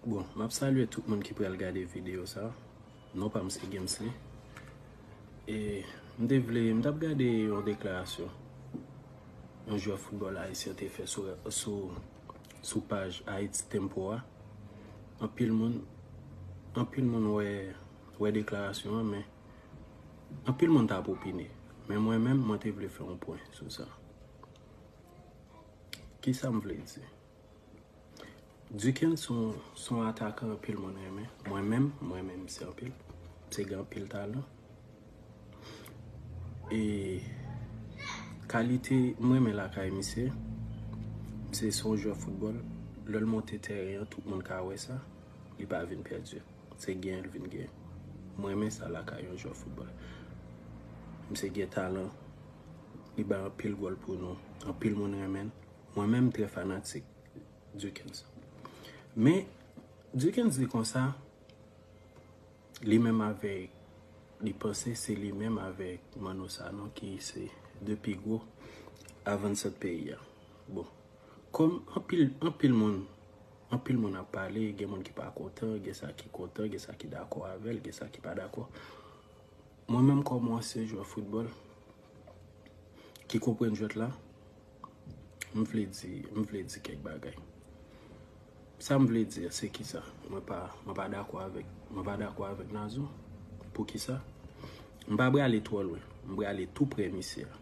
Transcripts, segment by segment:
Bon, m ap salye tout moun ki pral gade videyo sa. Non pa m se Gemsly. E m te vle, m t ap gade yon deklarasyon yon jwè foutbòl ayisyen te fè sou paj Haiti Tempo a. Anpil moun, anpil moun wè deklarasyon an men, anpil moun ta ap opine. Men mwen menm, mwen te vle fè yon pwen sou sa. Kisa m vle di? Duken son son atakan anpil moun renmen. Mwen menm, mwen renmen misye anpil. Misye gen anpil talan. E kalite mwen renmen lakay misye, misye son jwè foutbòl. Lè l monte tèren an, tout moun ka wè sa. Li pa vin pèdi. Se gen l vin gen. Mwen renmen sa lakay yon jwè foutbòl. Misye gen talan. Li bay anpil gòl pou nou. Anpil moun renmen l. Mwen menm m trè fanatik Dukens. Men Dukens di konsa, li menm avèk, li panse se li menm avèk Manno Sanon ki se 2 pi gwo avansant peyi a. Bon, kòm anpil, anpil moun, anpil moun ap pale, gen moun ki pa kontan, gen sa ki kontan, gen sa ki dakò avè l, gen sa ki pa dakò. Mwen menm kòm yon ansyen jwè foutbòl ki konprann jwèt la, m vle di, m vle di kèk bagay. Sa m vle di a se ki sa? Mwen pa, mwen pa dakò avèk, mwen pa dakò avèk Nazon. Pou ki sa? M pa brale twò lwen. M brale tou prè misye a.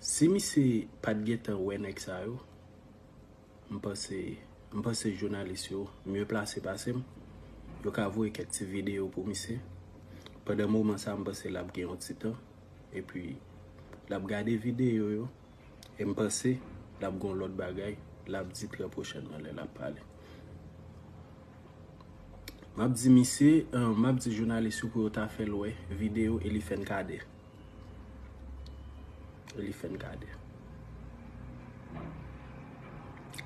Si misye pa t gen tan wè nèg sa yo. M panse M panse jounalis yo mye plase pase m. Yo ka voye kèk ti videyo pou misye. Pandan moman sa m panse l ap gen yon ti tan. Epi l ap gade videyo yo. E m panse l ap gen yon lòt bagay l ap di trè pwochènman lè l ap pale. M ap di misye, m ap di jounalis yo pou yo ta fè l wè videyo Elifen Kader. Li fè n gade.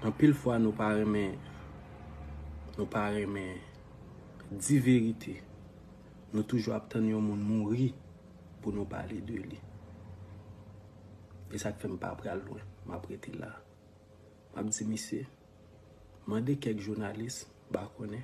Anpil fwa nou pa renmen, nou pa renmen di verite. Nou toujou ap tann yon moun mouri pou nou pale de li. E sa k fè m pa pral lwen, m ap rete la. M ap di misye, mande kèk jounalis, m pa konnen.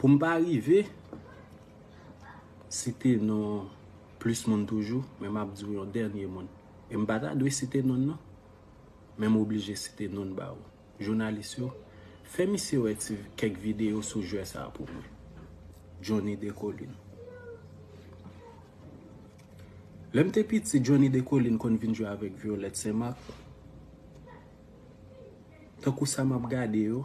Pou m pa rive site non plis moun toujou, men m ap di w yon dènye moun. E m pa ta dwe site non l non. Men m oblije site non l ba ou. Jounalis yo, fè misye wè ti kèk videyo sou jwè sa a pou mwen. Johnny Descollines. Lè m te piti, Johnny Descollines konn vin jwe avèk Violette Saint-Marc. Tankou sa m ap gade yo.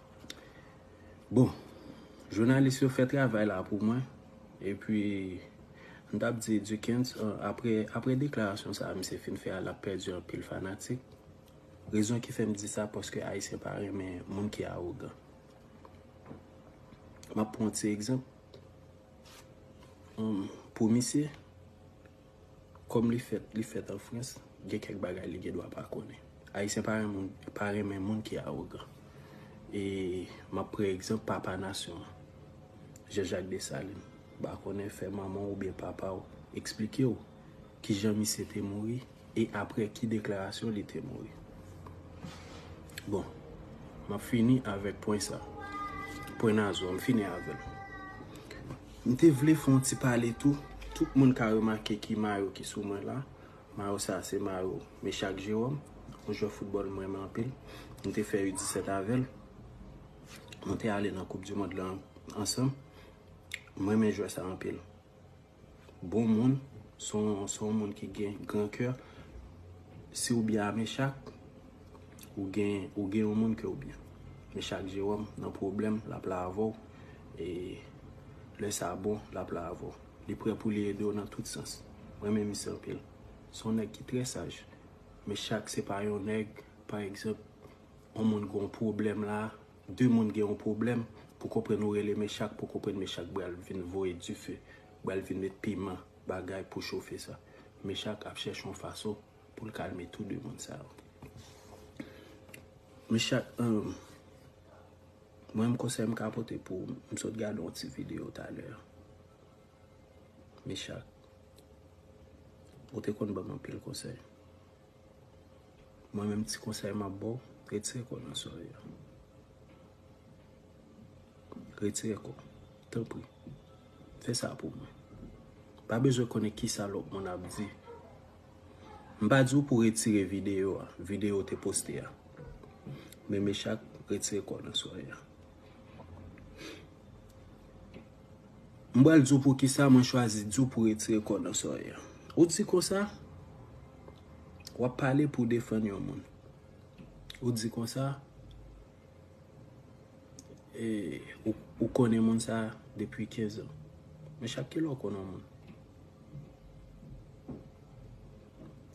Bon, jounalis yo fè travay la pou mwen. E pwi, m t ap di Dukens, apre deklarasyon sa a misye fin fè a, l ap pèdi anpil fanatik. Rezon ki fè m di sa, paske Ayisyen pa renmen moun ki awogan. M ap pran yon ti egzanp pou misye. Kòm li fèt li fèt an frans gen kèk bagay li gen dwa pa konnen. Ayisyen pa renmen moun pa renmen moun ki awogan. E m ap pre egzanp papa nasyon an Jean Jacques Dessalines. M pa konnen fè manman w oubyen papa w eksplike w ki jan misye te mouri e aprè ki deklarasyon li te mouri. Bon, m ap fini avèk pwen sa. Pwen Nazon an m fini avè l. M te vle fè yon ti pale tou, tout moun ka remake ki mayo ki sou mwen la, mayo sa se mayo Meshak Jerome, yon jwè foutbòl m renmen anpil, m te fè U17 avè l, nou te ale nan koup di mond lan ansanm, m renmen jwè sa anpil, bon moun, se yon moun ki gen gran kè, si w byen a Meshak, Ou gen ou gen yon moun kew byen. Men chak Jérôme nan pwoblèm lap la avèw e lè sa bon lap la avèw. Li prè pou li edew nan tout sans. M renmen misye anpil. Son nèg ki trè saj. Men chak se pa yon nèg pa egzanp yon moun gon pwoblèm la, 2 moun gen yon pwoblèm pou konprann ou rele men chak pou konprann men chak bal vin voye dife. Bal vin met piman bagay pou chofe sa. Men chak ap chèche yon fason. pou l kalme tou 2 moun sa yo. Men chak anm, mwen menm konsèy m ka pote pou ou, m sot gade yon ti videyo talè a. Men chak, ou te konn ban m anpil konsèy. Mwen menm ti konsèy m ap ba w, retire kò w nan sòrèy la. Retire kò w, tanpri. Fè sa pou mwen. Pa bezwen konnen kisa lòt moun ap di M pa di w pou w retire videyo a, videyo w te poste a. Men Mechak retire kò l nan sware a. M pral di w poukisa mwen chwazi di w pou w retire kò w nan sware a. Ou di konsa, w ap pale pou w defann yon moun. Ou di konsa. E ou konnen moun sa depi 15 an. Men chak ki lè ou konnen yon moun?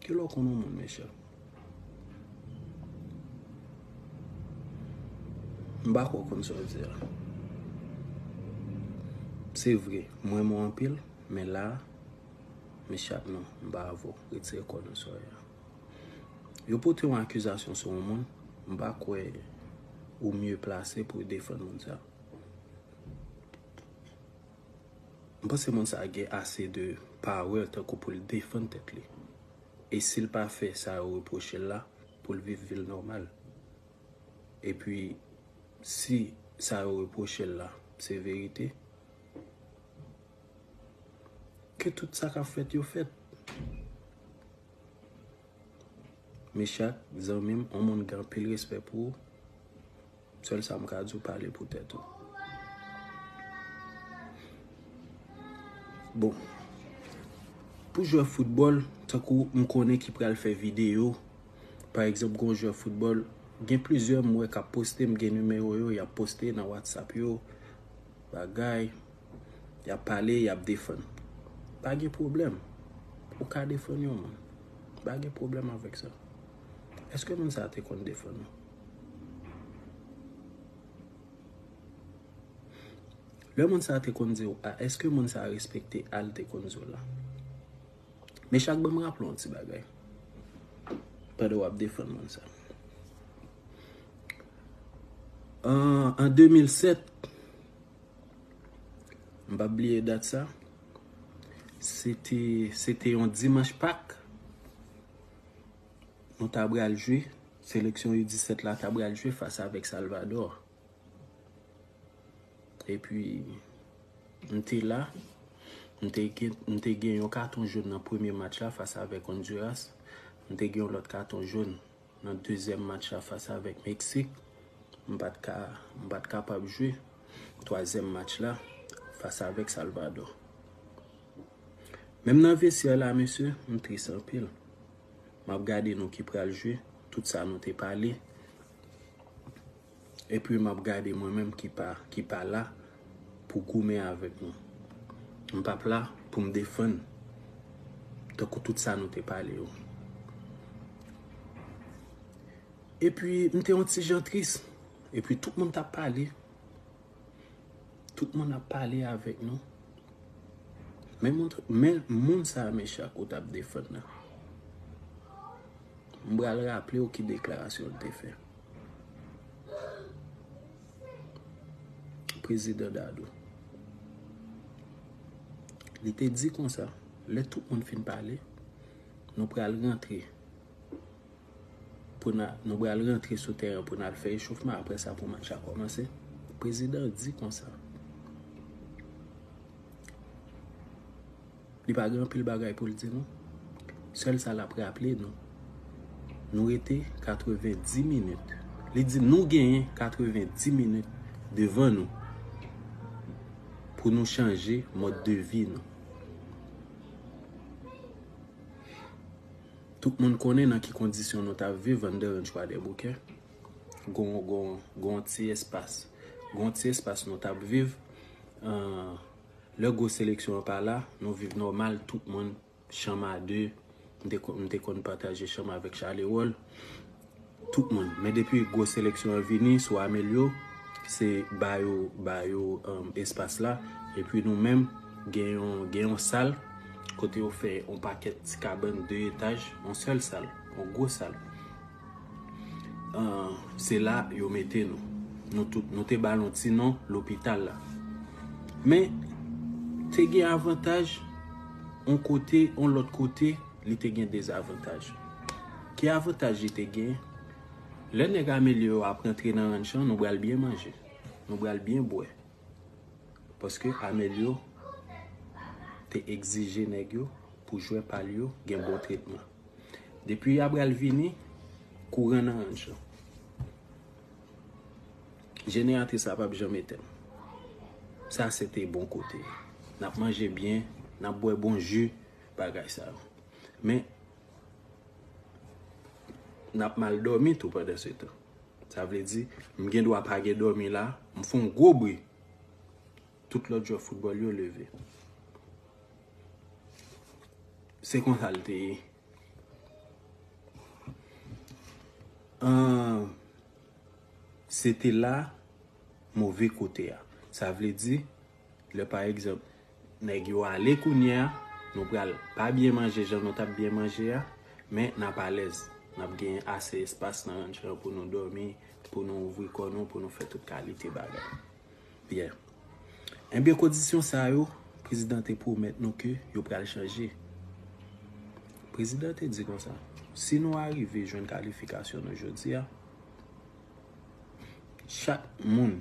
Ki lè ou konnen yon moun men chak? M pa kwè ou konn sa w ap di a. Se vre, m renmen w anpil, men la men chak non, m pa avè w. Retire kò w nan swa a. Yo pote yon akizasyon sou yon moun, m pa kwè ou mye plase pou defann moun sa. M panse moun sa gen ase de powè tankou pou l defann tèt li. E si l pa fè sa yo repwoche l la, pou l viv vi l nòmal. E pi, si sa yo repwoche l la se verite, Ke tout sa kap fèt yo fèt. Meshak zanmi m on moun gen anpil respè pou ou sèl sa m ka di w pale pou tèt ou. Bon pou jwè foutbòl tankou m konnen ki pral fè videyo pa egzanp gon jwè foutbòl gen plizyè m wè kap poste m gen nimewo yo yap poste nan whatsapp yo bagay Yap pale, yap defann. Pa gen pwoblèm. Ou ka defann yon moun. Pa gen pwoblèm avèk sa. Eske moun sa te konn defann ou? Lè moun sa te konn di ou a, eske moun sa respekte a li te konn di ou la? Men chak banm raple ou yon ti bagay. Pandan wap defann moun sa. An 2007. M pap bliye dat sa. Se te yon dimanch pak. Nou ta bral jwe. Seleksyon yu 17 la ta bral jwe fas avèk Salvadò. E pi m te la. M te gen yon katon joun nan premye match la fas avèk Honduras. M te gen yon lòt katon joun. Nan dezyèm match la fas avèk Meksik, m pa t ka, m pa t kapab jwe. Twazyèm match la, fas avèk Salvadò. Menm nan vestyè la mesye, m tris anpil. M ap gade nou ki pral jwe, tout sa nou te pale. Epi map gade mwen menm ki pa la pou goumen avèk nou. M pap la pou m defann tankou tout sa nou te pale yo. Epi m te yon ti jan tris. Epi tout moun tap pale. Tout moun ap pale avèk nou. Men moun sa mechan ou tap defann nan. M bral raple ou ki deklarasyon l te fè. Prezidan Dadou. Li te di kon sa, lè tout moun fin pale, nou pral rentre pou nan, nou pral rentre sou teren pou nan fè echofman apre sa pou match la komanse. Prezidan di kon sa. Li pa gen anpil bagay pou l di nou. Sèl sa l ap raple nou, nou rete 90 minit. Li di nou genyen 90 minit devan nou pou nou chanje mòd de vi nou. Tout moun konnen nan ki kondisyon nou t ap viv anndan ranch Kwadèboukè. Gon yon ti espas. Gon yon ti espas nou t ap viv. Lè gwo seleksyon an pa la, nou viv nòmal, tout moun, chanm a de, m te konn pataje chanm avèk Chalerol, tout moun. Men depi gwo seleksyon an vini sou Amelio, se ba yo, ba yo espas la, epi nou menm, gen yon, gen yon sal, kote yo fè yon pakèt ti kabann 2 etaj, yon sèl sal, yon gwo sal. Se la yo mete nou. Nou tout, nou te balon ti non lopital la. Men, te gen avantaj, on kote, on lot kote, li te gen dezavantaj. Ki avantaj li te gen? Le neg amelye yo ap rentre nan ranch lan, nou bal byen manje. Nou bal byen bwe. Paske amelye yo te egzije neg yo pou jwe pal yo gen bon tretman. Depi Abral vini kouran nan ranch lan. Jeneratris la pap janm etèn. Sa se te bon kote. Nap manje byen, nap bwè bon ji, bagay sa yo. Men nap mal dòmi tou pandan se tan. Sa vle di, m gen dwa pa gen dòmi la, m fon gwo bri. Tout lòt jwè foutbòl yo leve. Se konsa l te ye. An, se te la move kote a. Sa vle di, lè pa egzanp, nèg yo ale kounye a, nou pral pa byen manje jan nou t ap byen manje a, men n ap alèz. N ap gen ase espas nan ranch lan pou nou dòmi, pou nou ouvri kò nou, pou nou fè tout kalite bagay. Yeah. Enbyen kondisyon sa yo, prezidan te pwomèt nou ke yo pral chanje. Prezidan te di konsa, si nou arive jwenn kalifikasyon nou jodi a, chak moun,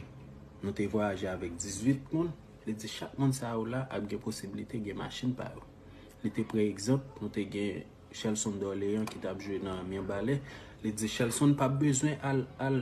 nou te vwayaje avèk 18 moun, li di chak moun sa yo la ap gen posibilite gen machin pa yo. Li te pran egzanp, nou te gen Shelson Dorlean ki t ap jwe nan Mirbalais, li di Shelson p ap bezwen al, al.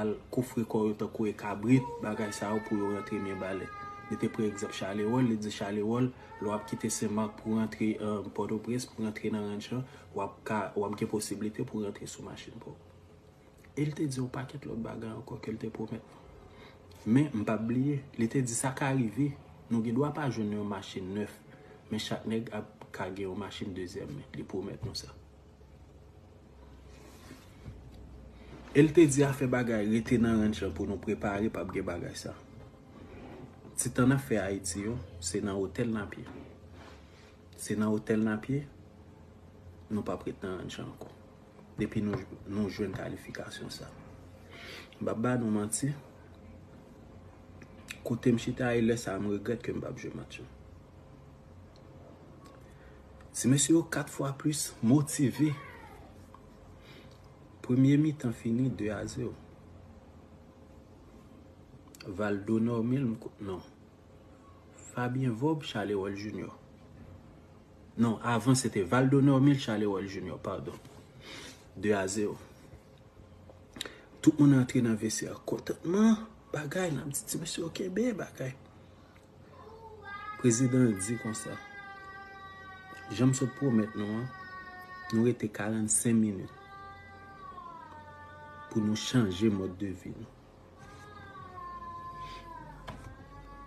Al kofre kò yo tankou e kabrit, bagay sa yo pou yo rantre Mirebalais. Li te pran egzanp Charleroi, li di Charleroi, lè w ap kite Sen Mak pou rantre Pòtoprens, pou rantre nan ranch lan, w ap ka, w ap gen posiblite pou rantre sou machin pa w. E li te di yon pakèt lòt bagay ankò ke li te pwomèt nou. Men, m pa p bliye, li te di sa ka rive, nou gen dwa pa jwenn yon machin nèf, men chak nèg ap ka gen yon machin dezyèm men. Li pwomèt nou sa. El te di afè bagay rete nan ranch lan pou nou prepare pap gen bagay sa. Ti tan nap fè ayiti yo se nan otèl nap ye. Se nan otèl nap ye nou pap ret nan ranch lan ankò. Depi nou jwenn kalifikasyon sa. M pap ba nou manti kotem chita e lè sa m regrèt kem pap jwe match yo. Ti mesye yo 4 fwa plis motive. Premye mitan fini 2 a 0. Valdo Normil m kwè non. Fabien Vob, Chalerol Junior. Non, avan se te Valdo Normil, Chalerol Junior, padon. 2 a 0. Tout moun antre nan vestiè kontantman. Bagay nan ti mesye yo kenbe bagay. Prezidan an di konsa, Jan m sot pwomèt nou an, nou rete 45 minit pou nou chanje mòd de vi nou.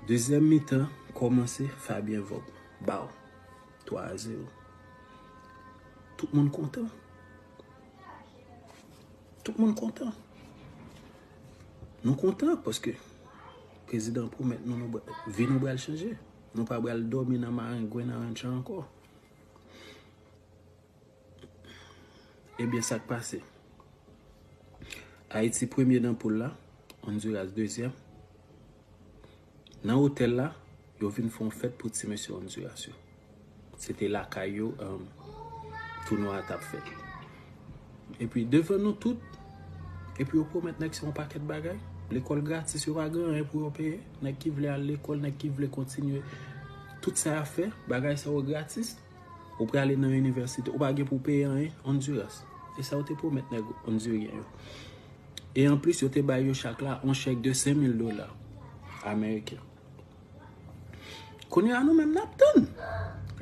Dezyèm mitan kòmanse, Fabien Vogue ba w 3 a 0. Tout moun kontan. Tout moun kontan. Nou kontan paske Prezidan pwomèt nou nou vi nou bral chanje. Nou pa bral dòmi nan marengwen nan rantcha ankò. Ebyen sak pase. Ayiti premye nan poul la. Onduras dezyèm. Nan otèl la, yo vin fon fèt pou ti mesye Onduras yo. Se te lakay yo tounwa a t ap fèt. Epi devan nou tout, epi yo pwomèt nèg sa yon pakèt bagay. Lekòl gratis, yo pa gen anyen pou yo peye. Nèg ki vle al lekòl, nèg ki vle kontinye tout sa y ap fè, bagay sa yo gratis. Ou prale nan inivèsite, ou pa gen pou w peye anyen. Ondiras, se sa yo te pwomèt nèg ondiryen yo. E anplis, yo te bay yo chak la yon chèk de 5000 dola ameriken. Kounye a nou menm nap tann.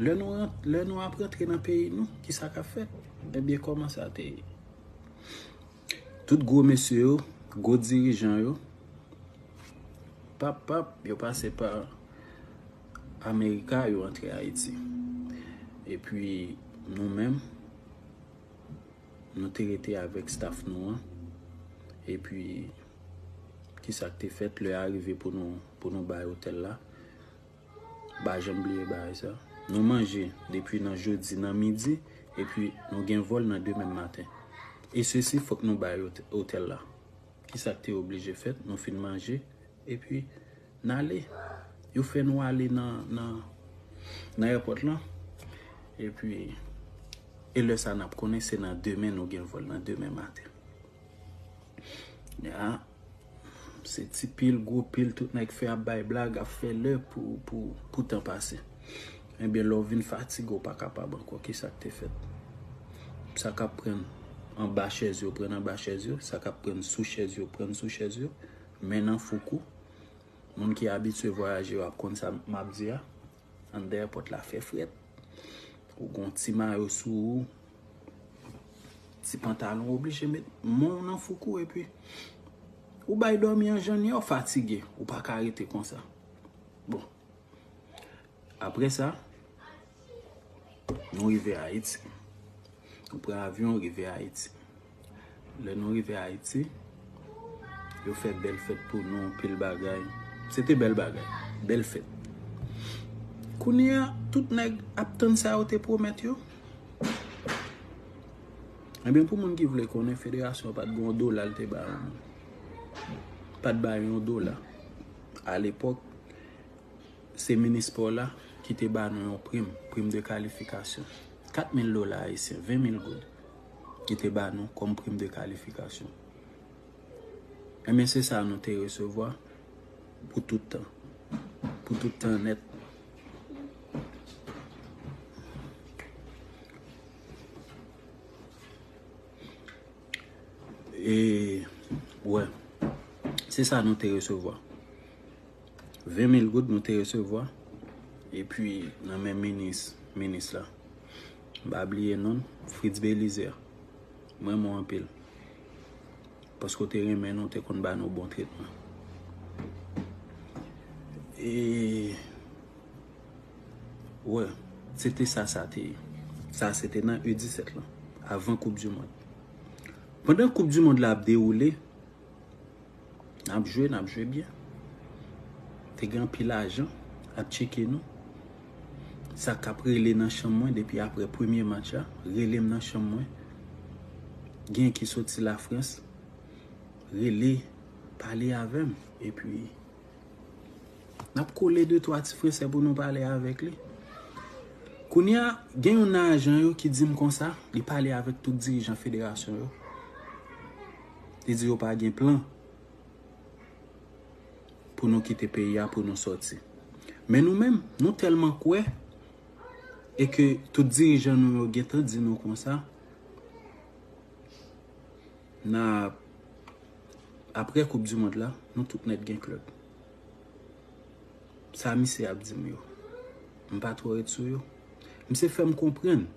Lè nou ap rantre nan peyi nou, ki sa kap fèt? Ebyen kòman sa te ye? Tout gwo mesye yo, gwo dirijan yo, pap pap, yo pase pa Amerika, yo rantre Ayiti. E pi nou menm, nou te rete avèk staff nou an. E pi... Ki sa k te fèt? Lè a rive pou nou pou nou bay otèl la. M pa janm bliye bagay sa. Nou manje depi nan jodi nan midi epi nou gen vòl nan demen maten. E sesi fòk nou bay otèl la. Ki sa k te oblije fèt? Nou fin manje epi n ale. Yo fè nou ale nan nan nan èpòt lan epi e lè sa n ap konnen se nan demen nou gen vòl nan demen maten. Ya Se ti pil gwo pil tout nèg fè ap bay blag ap fè lè pou tan pase Ebyen lè w vin fatige w pa kapab ankò ki sa k te fèt Sa k ap pran anba chèz yo pran anba chèz yo Sa k ap pran sou chèz yo pran sou chèz yo Men nan foukou Moun ki abitye vwayaje yo ap konn sa m ap di a Andan èpòt la fè frèt. Ou gon ti mayo sou ou. Ti pantalon ou oblije met men w nan fouk ou epi. Ou bay dòmi an jèn yò fatige. Ou pa ka rete konsa. Bon. Apre sa. Nou rive Ayiti. Nou pran avyon rive Ayiti. Lè nou rive Haiti, yo fè bèl fèt pou nou, anpil bagay. Se te bèl bagay, bèl fèt. Kounye a, tout nèg ap tann sa yo te pwomèt yo. Ebyen pou moun ki vle konnen, federasyon pat gen yon dola li te ba yo non. Pat ba yo yon dola. A lepòk, se minis spò la ki te ba nou yon prim, prim de kalifikasyon. 4 mil dola ayisyen, 20 mil goud. ki te ba nou kòm prim de kalifikasyon. Enben se sa nou te resevwa pou tout tan. Pou tout tan nèt. E, wè, se sa nou te resevwa. 20 mil goud nou te resevwa, epi nan men minis, minis la. M pa bliye non l, Fritz Belizaire. M renmen w anpil. Paske w te renmen nou, w te konn ba nou bon tretman. E Wè, se te sa sa te ye. Sa se te nan U-17 lan, avan koup du mond. Pandan koup du mond la ap dewoule, Nap jwe, nap jwe byen. Te gen anpil ajan ap tcheke nou. Sa kap rele nan chanm mwen depi apre premye match la, rele m nan chanm mwen. Gen ki soti Lafrans, rele, pale avè m. E pi, nap kole de twa ti Fransè pou nou pale avèk li. Kounye a, gen yon nan ajan yo ki di m konsa, li pale avèk tout dirijan federasyon yo. Li di yo pa gen plan pou nou kite peyi a pou nou sòti. Men nou menm, nou tèlman kwè e ke tout dirijan nou yo gen tan di nou konsa, na ap, apre koup di mond la, nou tout nèt gen klèb. Sa misye ap di m yo, m pa twò ret sou yo. Misye fè m konprann.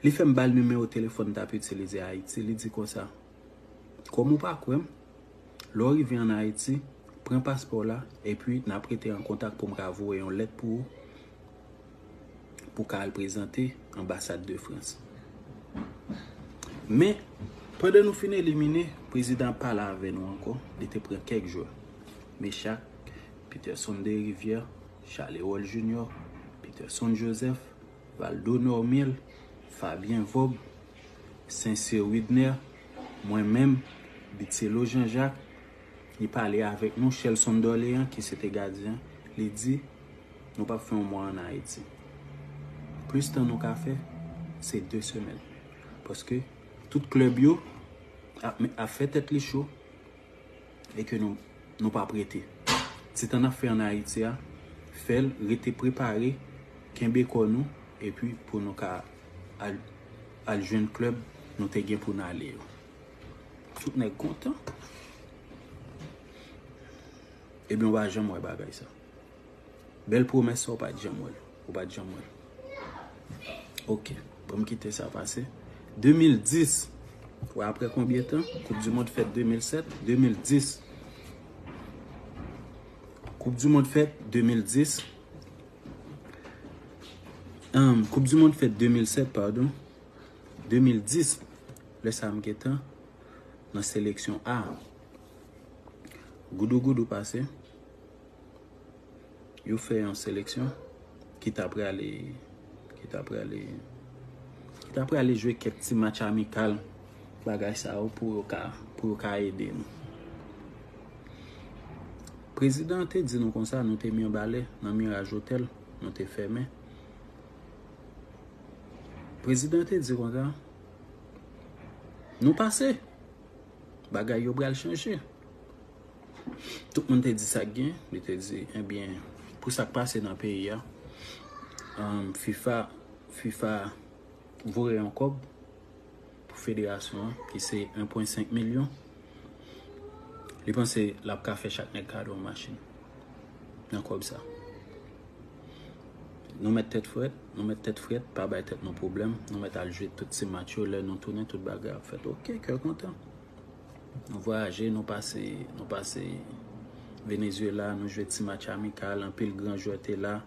Li fè m ba l nimewo telefòn m t ap itilize Ayiti, li di konsa, Kòm ou pa kwè m, lè w rive ann Ayiti, pran paspò w la, epi n ap rete an kontak pou m ka voye yon lèt pou ou pou w ka al prezante anbasad de Frans. Men, pandan nou fin elimine, prezidan an pale avè nou ankò, li te pran kèk jwè, Mechack, Peterson Derivière, Charles Erol Junior, Peterson Joseph, Valdo Normil, Fabien Vob, Sincere Widner, mwen menm, Bitselot Jean Jacques, li pale avèk nou, Shelson Dorlean ki se te gadyen an, li di, Nou p ap fè yon mwa ann Ayiti. Plis tan nou ka fè, se de semèn. Paske, tout klèb yo ap fè tèt li cho. e ke nou pa prete. Ti tan n ap fè an Ayiti a, fè l rete prepare, kenbe kò nou, epi pou nou ka al jwenn klèb nou te gen pou n ale yo. Tout nèg kontan. Ebyen ou pa janm wè bagay sa. Bel promes sa ou pat janm wèl. Ou pat janm wèl. Ok. Bon m kite sa pase. 2010. Ou wè apre konbyen tan? Koup di mond fèt 2007. 2010. Koup di mond fèt 2010. Humm. Koup di mond fèt 2007 pardon. 2010. Lè sa m gen tan. Nan seleksyon A. Goudou goudou pase. Yo fè yon seleksyon ki ta prale ki ta prale ki ta prale jwe kèk ti match amikal bagay sa yo pou yo ka pou yo ka ede nou. Prezidan te di nou konsa nou te Mirbalè nan Miraj Otèl nou te fèmen. Prezidan te di konsa nou pase bagay yo pral chanje. Tout moun te di sak gen, yo te di ebyen pou sak pase nan peyi a, fifa, fifa voye yon kòb pou federasyon an ki se 1.5 milyon, li panse lap ka fè chak nèg kado yon machin nan kòb sa. Nou mèt tèt frèt, nou mèt tèt frèt, pa bay tèt nou pwoblèm, nou mèt al jwe tout ti match yo, lè nou tounen tout bagay ap fèt ok, kè kontan. Nou vwayaje, nou pase, nou pase Venezuela, nou jwe ti match amikal, anpil gran jwè te la,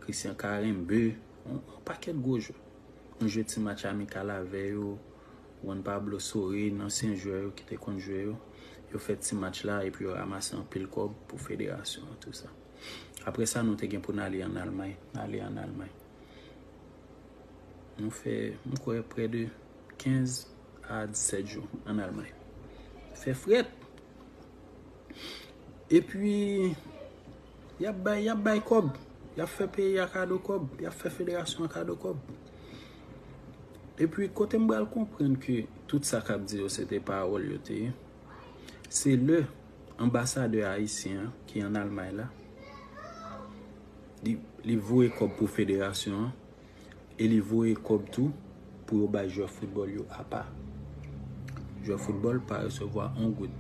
Christian Karembeu, yon pakèt gwo jwè. Nou jwe ti match amikal avè yo, Juan Pablo Sorin, ansyen jwè yo ki te konn jwe yo, yo fè ti match la epi yo ramase anpil kòb pou federasyon an tou sa. Aprè sa nou te gen pou n ale an Almay, ale an Almay. Nou fè, m kwè, prè de 15. Ad Sergio an Almay. Fè frèt. E pwi, y ap bay, y ap bay kòb. Y ap fè peyi a kado kòb. Y ap fè federasyon an kado kòb. E pwi, kote m bal konprann ke tout sa k ap di yo se te pawòl yo te ye, se lè anbasadè ayisyen an ki an Almay la, li voye kòb pou federasyon an, e li voye kòb tou pou yo bay jwè foutbòl yo apa. Jwè foutbòl pa resevwa on goud.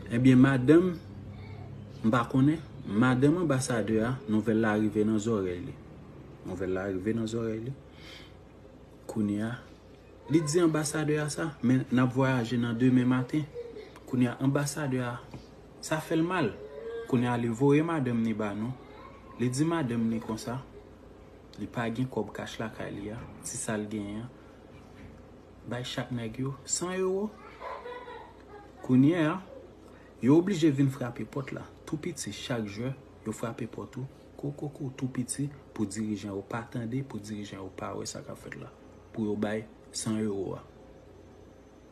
Ebyen madanm, m pa konnen, madanm anbasadè a, nouvèl la rive nan zòrèy li. Nouvèl la rive nan zòrèy li. Kounye a, li di anbasadè a sa, men n ap vwayaje nan demen maten. Kounye a, anbasadè a. Sa fè l mal. Kounye a li voye madanm ni ba nou. Li di madanm ni konsa, li pa gen kòb kach lakay li a, ti sa l genyen an, bay chak nèg yo 100 ewo. Kounye a, yo oblije vin frape pòt la, tou piti, chak jwè, yo frape pòt ou, kokokou, tou piti, pou dirijan yo pa tande, pou dirijan yo pa wè sa k ap fèt la, pou yo bay 100 ewo a.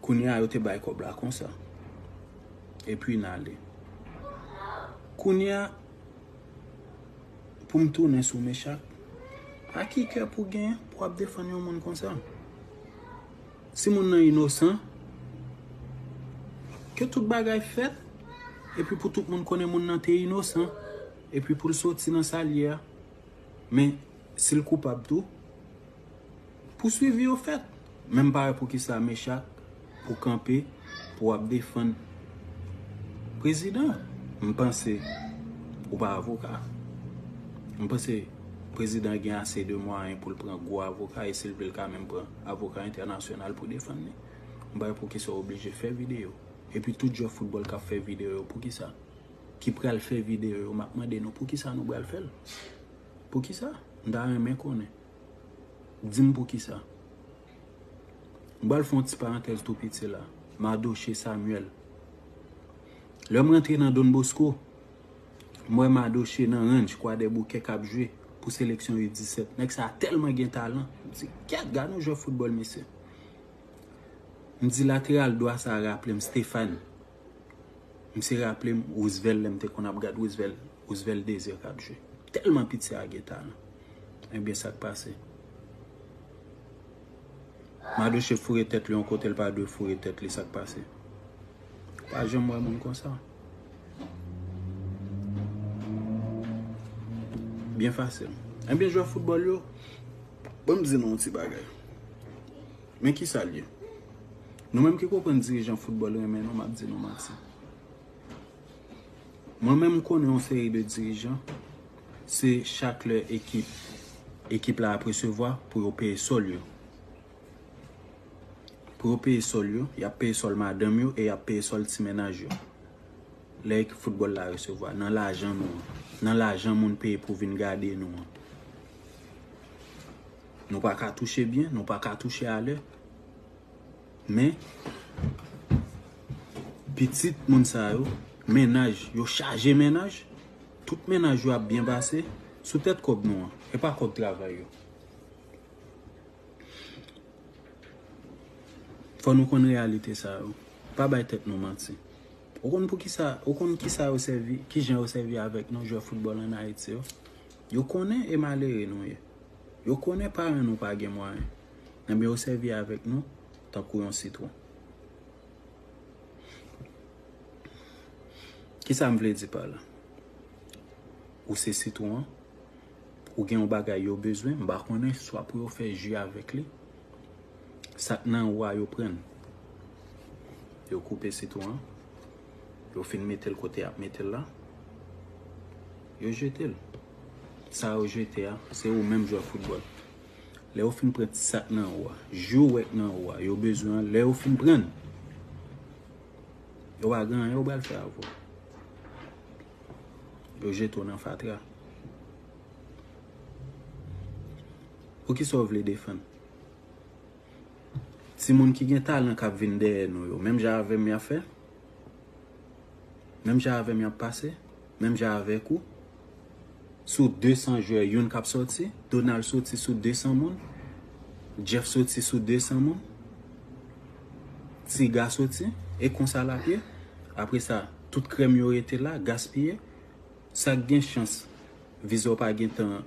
Kounya yo te bay kob la konsa. Epi n ale. Kounya pou m tounen sou Mechak, a ki kè pou gen pou wap defann yon moun konsa? Si moun nan inosan, ke tout bagay fèt, epi pou tout moun konnen moun nan te inosan, epi pou l soti nan sa l ye a. Men, si l koupab tou. Pou swivi yo fèt. Men m pa wè poukisa Mechak pou kanpe pou wap defann prezidan. M panse ou pa avoka. M panse prezidan gen ase de mwayen pou l pran gwo avoka e si l vle l ka menm pran avoka entènasyonal pou defann li. M pa wè poukisa ou oblije fè videyo. Epi tout jwè foutbòl kap fè videyo yo poukisa? Ki pral fè videyo yo map mande nou poukisa nou pral fè l? Poukisa? M ta renmen konnen. Di m poukisa. M pral fè yon ti parantèz tou piti la. Madoche Samuel. Lè m rantre nan Don Bosco, m wè Madoche nan ranch Kwadèboukè k ap jwe pou seleksyon U 17. Nèg sa a tèlman gen talan. M di, Gad! Gad yon jwè foutbòl mesye. M di lateral dwa sa a raple m Stéphane. M se raple m Roosevelt lè m te konn ap gad Roosevelt, Roosevelt Desir k ap jwe. M tèlman piti a gen talan. Ebyen sa k pase? Madoche foure tèt li yon kote l pa dwe foure tèt li sa k pase? Ou pa janm wè moun konsa. Byen fasil. Ebyen jwè foutbòl yo, ban m di nou yon ti bagay. Men kisa l ye? Nou menm ki konprann dirijan foutbòl renmen nou, m ap di nou manti. Mwen menm m konnen yon seri de dirijan, se chak lè ekip, ekip la ap resevwa pou yo peye sòl yo. Pou yo peye sòl yo, y ap peye sòl madanm yo e y ap peye sòl ti mennaj yo. Lè ekip foutbòl la resevwa, nan lajan nou an, nan lajan moun peye pou vin gade nou an. Nou pa ka touche byen, nou pa ka touche a lè. Men, pitit moun sa yo, mennaj, yo chaje mennaj, tout mennaj yo ap byen pase, sou tèt kòb nou an, e pa kòb travay yo. Fò nou konn reyalite sa yo. Pa bay tèt nou manti. Ou konn pou ki sa, ou konn ki sa yo sèvi, ki jan yo sèvi avèk nou jwè foutbòl an Ayiti yo. Yo konnen e malere nou ye. Yo konnen paran nou pa gen mwayen, enben yo sèvi avèk nou tankou yon sitwon. Kisa m vle di pa la? Ou se sitwon an, ou gen yon bagay yo bezwen, m pa konnen, swa pou yo fè ji avèk li, sa k nan ou a yo pran l. Yo koupe sitwon an, yo fin mete l kote y ap mete l la, yo jete l. Sa yo jete a, se ou menm jwè foutbòl. Lè yo fin pran ti sa k nan ou a, jou wè k nan ou a, yo bezwen an, lè yo fin pran l, yo pa gen anyen yo pral fè avè w. Yo jete w nan fatra. Poukisa w vle defann? Timoun ki gen talan k ap vin dèyè nou yo, menm jan avè m y ap fè? Menm jan avè m y ap pase? Menm jan avèk ou, sou 200 jwè youn kap sòti, Donald soti sou 200 moun, Jeff soti sou 200 moun, Tiga soti, e konsa lap ye, apre sa tout krèm yo rete la, gaspiye, sak gen chans viza w pa gentan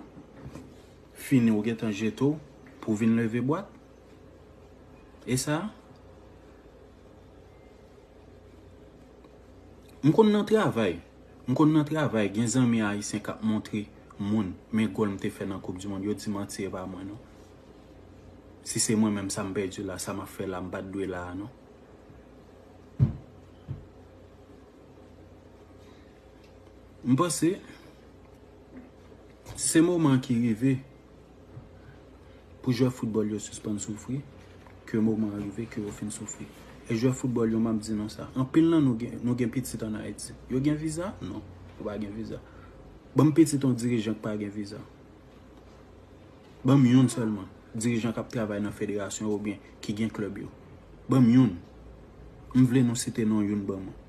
fini ou gentan jete w pou vin leve bwat, e sa? M konn nan travay M konn nan travay gen zanmi ayisyen kap montre moun men gòl m te fè nan koup di mond yo di manti e pa mwen non si se mwen menm sa m pèdi la sa map fè la m pat dwe la a non. M panse se moman an ki rive. Pou jwè foutbòl yo sispann soufri, ke moman an rive ke yo fin soufri. E jwè foutbòl yo, m ap di nou sa, anpil nan nou gen, nou gen pitit an Ayiti. Yo gen viza? Non. Yo pa gen viza. Ban m pitit yon dirijan ki pa gen viza. Ban m youn sèlman, dirijan k ap travay nan federasyon yo oubyen ki gen klèb yo. Ban m youn. M vle nou site non youn ban mwen.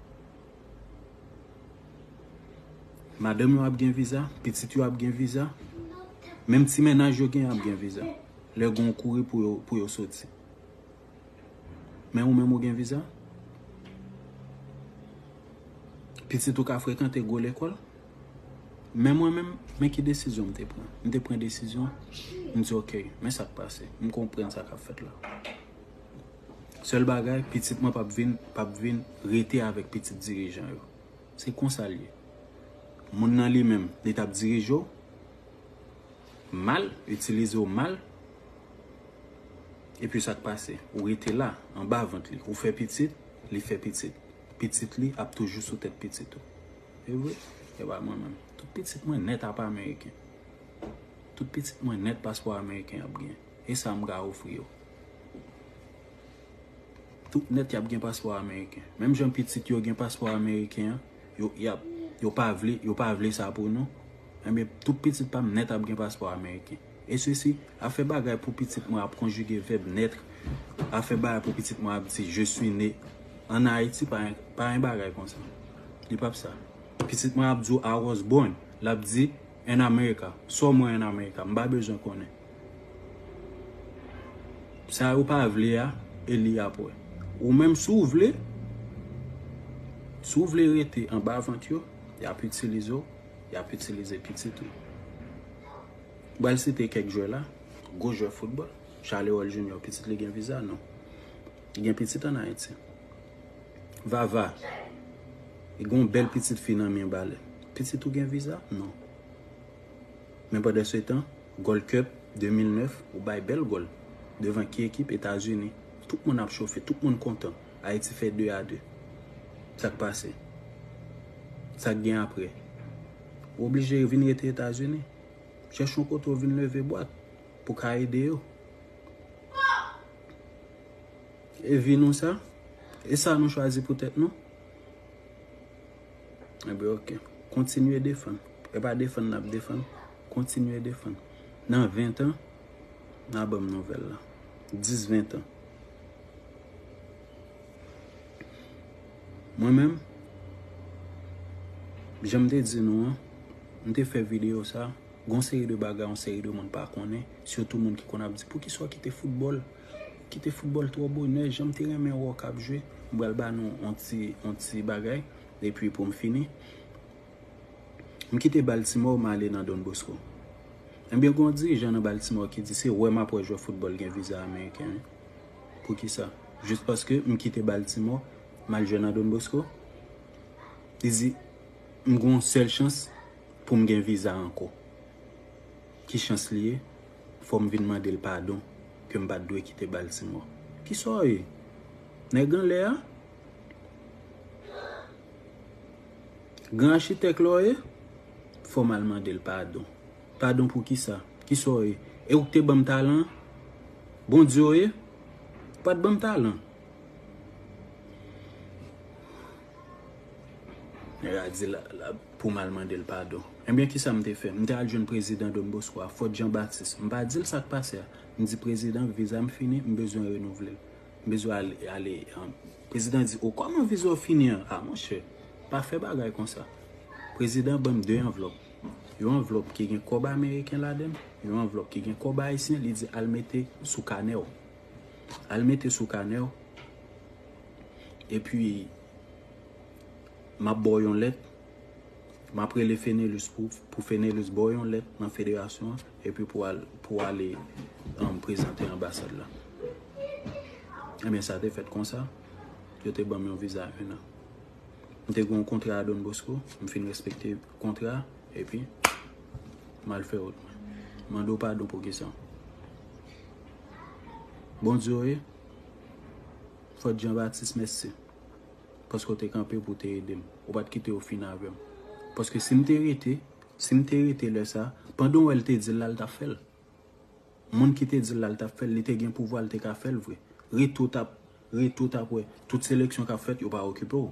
Madanm yo ap gen viza, pitit yo ap gen viza, menm ti mennaj yo gen ap gen viza. Lè gen yon kouri pou yo soti. Men ou menm ou gen viza? Pitit ou ka frekante gwo lekòl? Men mwen menm, men ki desizyon m te pran. M te pran desizyon, m di ok, men sa k pase. M konprann sa k ap fèt la. Sèl bagay, pitit mwen pap vin, pap vin rete avèk pitit dirijan yo. Se konsa l ye. Moun nan li menm, li t ap dirije w mal, itilize w mal, epi sa k pase? Ou rete la, anba vant li. Ou fè pitit, li fè pitit. Pitit li ap toujou sou tèt pitit ou. E vre? E ba mwen menm. Tout pitit mwen nèt apa ameriken. Tout pitit mwen nèt paspò ameriken y ap gen. E sa m ka ofri yo? Tout nèt y ap gen paspò ameriken. Menm jan pitit yo gen paspò ameriken an, yo pa vle, yo pa vle sa pou nou. Enben, tout pitit pa m nèt ap gen paspò ameriken. E se si, ap fè bagay pou pitit mwen ap konjige vèb nètre, ap fè bagay pou pitit mwen ap di je sui ne an Ayiti, pa yon bagay konsa. Li pa p sa. Pitit mwen ap di w I was born, l ap di. En America. Saw mwen en America. Mpa bezwen konnen. Sa yo pa vle a, Eli ap wè. Ou menm si w vle, si w vle rete anba vant yo, yap itilize w, yap itilize pitit ou. M pral site kèk jwè la, gwo jwè foutbòl. Charleroi Junior, pitit li gen viza? Non. Li gen pitit an Ayiti. Vava, li gen yon bèl pitit fi nan men bale. Pitit ou gen viza? Non. Men pandan se tan, Gold Cup 2009, ou bay bèl gòl. Devan ki ekip? Etazini. Tout moun ap chofe, tout moun kontan. Ayiti fè 2 a 2. Sa k pase? Sa k gen apre? Ou oblije vin rete Etazini. Chèche yon kote ou vin leve bwat pou w ka ede yo. E vi nou sa? E sa nou chwazi pou tèt nou? Ebe ok. Kontinye defann. E pa defann nap defann. Kontinye defann. Nan 20 an, nan banm nouvel la. 10, 20 an. Mwen menm, janm te di nou an, mte fè video sa. Gon seri de bagay yon seri de moun pa konnen, sitou moun ki konn ap di poukisa w kite foutbòl, ou kite foutbòl twò bonè, jan m te renmen wè w k ap jwe. M pral ba nou yon ti yon ti bagay epi pou m fini. M kite Baltimore m ale nan Don Bosco. Ebyen gen yon dirijan nan Baltimore ki di se wè m ap wè jwè foutbòl gen viza ameriken wi. Poukisa? Jis paske m kite Baltimore m al jwe nan Don Bosco? Li di m gen yon sèl chans. poum gen viza ankò ki chans li ye fòm vin mandel padon kem pat dwe kite Baltimore kisa w ye nèg anlè a gran achitèk la w ye fòm al mandel padon padon pou kisa kisa w ye e ou k te banm talan an Bondye w ye ou pat banm talan. Nèg la di pou m al mande l padon. Ebyen kisa m te fè? M te al jwenn prezidan Don Bosco a, Fort Jean Baptiste. M pa di l sa k pase a. M di prezidan viza m fini, m bezwen renouvle l. M bezwen ale. Prezidan di, o kòman viza w fini an? A monchè, pa fè bagay konsa. Prezidan ban m 2 anvlòp. Yon anvlòp ki gen kòb ameriken ladan l, yon anvlòp ki gen kòb ayisyen, li di al mete sou kanè w. Al mete sou kanèw. Epi map baw yon lèt. Map rele Fenelus pou Fenelus baw yon lèt nan federasyon an. Epi pou ale prezante anbasad la. Ebyen sa te fèt konsa. Yo te banm yon viza 1 an. M te gen yon kontra a Don Bosco. M fin respekte kontra a. Epi mal fè wout mwen. Mande w padon pou kisa. Bondye w ye? Fòt Jean Baptiste mèsi paske w te kanpe pou w te ede m. Ou pa t kite yo fin avè m. Paske si m te rete, si m te rete lè sa a, pandan w wè l te di l la, l t ap fè l. Moun ki te di l la, l t ap fè l, li te gen pouvwa l te ka fè l vre. Rete w t ap Ret ou tap wè. Tout seleksyon kap fèt yo pa okipe w.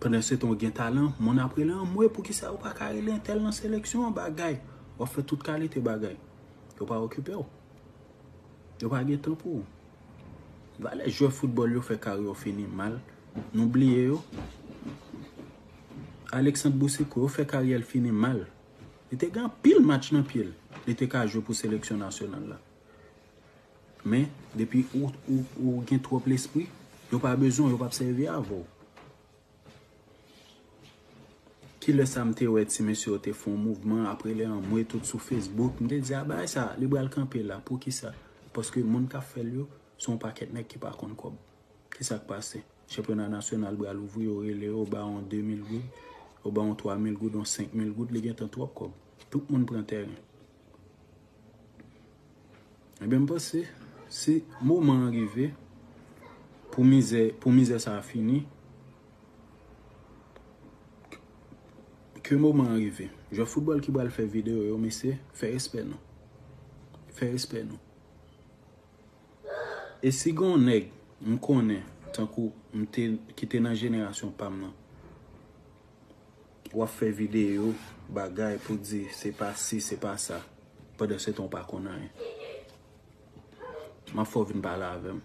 Pandan se tan ou gen talan, moun ap rele anmwey poukisa yo pa ka rele entèl nan seleksyon an bagay. Wap fè tout kalite bagay. Yo pa okipe w. Yo pa gen tan pou ou. Valè jwè foutbòl yo fè kari yo fini mal. Nou bliye yo. Alexandre Boucicaut yo fè karyè l fini mal. Li te gen anpil match nan pye l. Li te ka jwe pou seleksyon nasyonal la. Men, depi ou gen twòp lespri, yo pa bezwen w, yo pap sèvi avè w. Ki lè sa m te wè ti mesye yo te fè yon mouvman, apre lè anmwe tout sou Facebook, m te di a bagay sa, li pral kanpe la, poukisa? Paske moun k ap fè l yo, se yon pakèt nèg ki pa konn kòb. Ki sa k pase? Chanpyona nasyonal pral ouvri, yo rele yo, yo ba w yon 2 mil goud, yo ba w yon 3 mil goud, yon 5 mil goud, li gen tan twòp kòb. Tout moun pran tèren. Ebyen m panse si moman an rive pou mizè pou mizè sa fini ke moman an rive jwè foutbòl ki pral fè videyo yo mesye fè respè nou fè respè nou e si gon nèg m konnen tankou m te ki te nan jenerasyon pa m nan. Wap fè video bagay pou di se pa si se pa sa pandan se tan w pa konn anyen. Map fè w vin pale avè m.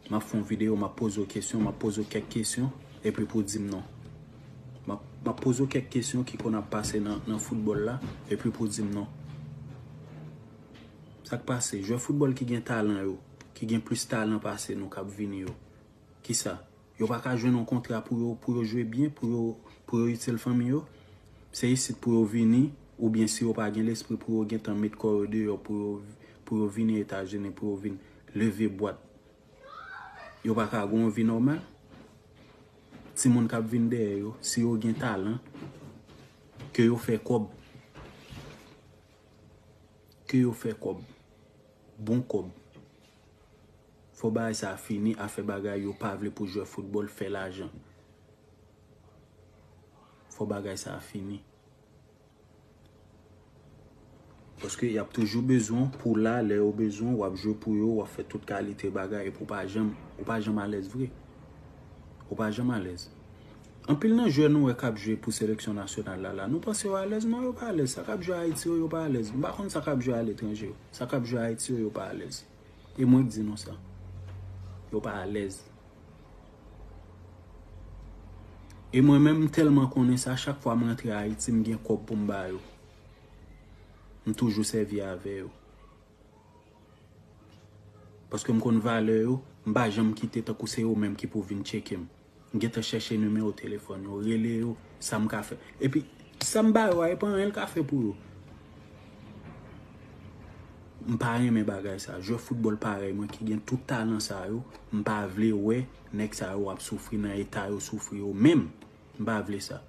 Map fè yon video map poze w kesyon, map poze w kèk kesyon epi pou w di m non. Map poze w kèk kesyon ki konn ap pase nan foutbòl la epi pou w di m non. Sak pase jwè foutbòl ki gen talan yo, ki gen plis talan pase nou kap vini yo, kisa? Yo pa ka jwenn yon kontra pou yo pou yo jwe byen, pou yo pou yo itil fanmi yo. Se isit pou yo vini oubyen si yo pa gen lespri pou yo gentan met kò yo deyò pou yo pou yo vini Etazini pou yo vin leve bwat. Yo pa ka gen yon vi nòmal? Timoun k ap vin dèyè yo, si yo gen talan, ke yo fè kòb. Ke yo fè kòb. Bon kòb. Fò bagay sa fini afè bagay yo pa vle pou jwè football fè lajan fò bagay sa fini paske yap toujou bezwen w pou w la lè yo bezwen w wap jwe pou yo wap fè tout kalite bagay epi w pa janm ou pa janm alèz vre ou pa janm alèz anpil nan jwè nou wè kap jwe pou seleksyon nasyonal la la nou panse yo alèz non yo pa alèz sa kap jwe ayiti yo yo pa alèz m pa konn sa kap jwe aletranje yo sa kap jwe ayiti yo yo pa alèz. E mwen k di nou sa. Yo pa alèz. E mwen menm m tèlman konnen sa chak fwa m rantre Ayiti m gen kòb pou m ba yo. M toujou sèvi avè yo. Paske m konn valè yo, m pa janm kite tankou se yo menm ki pou vin tcheke m. M gentan chèche nimewo telefòn yo, rele yo, sa m ka fè. Epi, sa m ba yo a, e pa anyen l ka fè pou yo. M pa renmen bagay sa. Jwè foutbòl parèy mwen ki gen tout talan sa yo, m pa vle wè nèg sa yo ap soufri nan eta yo soufri yo menm. M pa vle sa.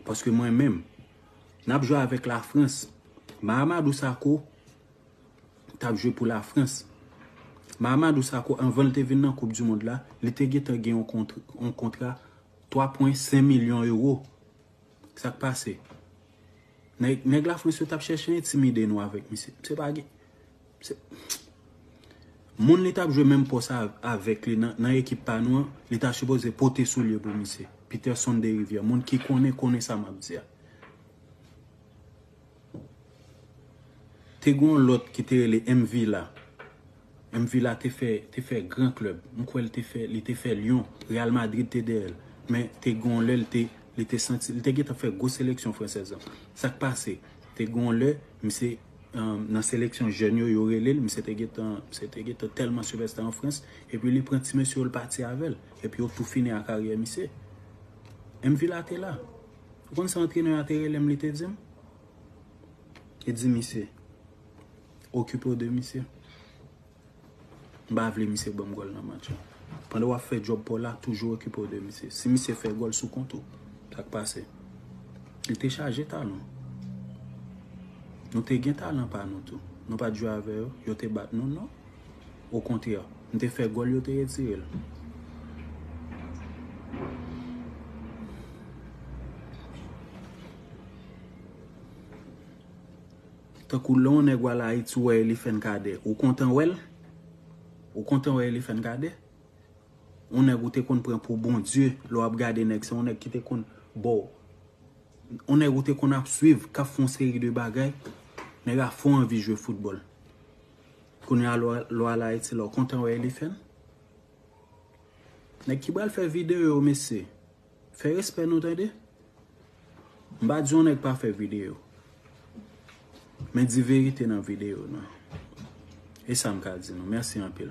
Paske mwen menm, n ap jwe avèk Lafrans. Mahamadou Sakho, tap jwe pou la Frans. Mahamadou Sakho anvan l te vin nan koup du mond la, li te gentan gen yon kontra 3 pwen 5 milyon euro. Sak pase? Nèg la Frans yo tap chèche entimide nou avèk misye. Se pa gen moun li tap jwe menm pòs avèk li nan ekip pa nou an, li ta sipoze pote soulye pou misye. Peterson Deriviere, moun ki konnen konnen sa map di a. Te gon lòt ki te rele M Villa. M Villa te fè te fè gran klèb. M kwè li te fè li te fè Lyon. Real Madrid te dèyè l. Men te gon lè li te li te santi li te gentan fè gwo seleksyon fransèz lan. Sa k pase? Te gon lè misye nan seleksyon jèn yo yo rele l. Misye te gentan misye te gentan tèlman sivèsta an Frans. Epi li pran ti mesye yo li pati avè l. Epi yo tou fini a karyè misye. M Villa te la. Ou konn sa antrenè a te rele m li te di m? Li di misye, okipe w de misye. M pa vle misye ban m gòl nan match la. Pandan w ap fè djòb pa w la, toujou okipe w de misye. Si misye fè gòl sou kont ou, sa k pase? Li te chaje talan. Nou te gen talan pa nou tou. Nou pa t jwe avè yo, yo te bat nou? Non. O kontrè, m te fè gòl yo te retire l. Tankou lè yon nèg w al Ayiti ou wè Elifen Kadè, ou kontan wè l? Ou kontan wè Elifen Kadè? Yon nèg ou te konn pran pou Bondye, lè w ap gade nèg se yon nèg ki te konn ba w. Yon nèg ou te konn ap swiv k ap fè yon seri de bagay, nèg a fè w anvi jwe foutbòl. Kounye a lwa la ayiti la ou kontan wè elifen? Nèg ki pral fè video yo mesye fè respè nou tande m pa di yon nèg pa fè video men di verite nan video nou e sa m ka di nou mèsi anpil.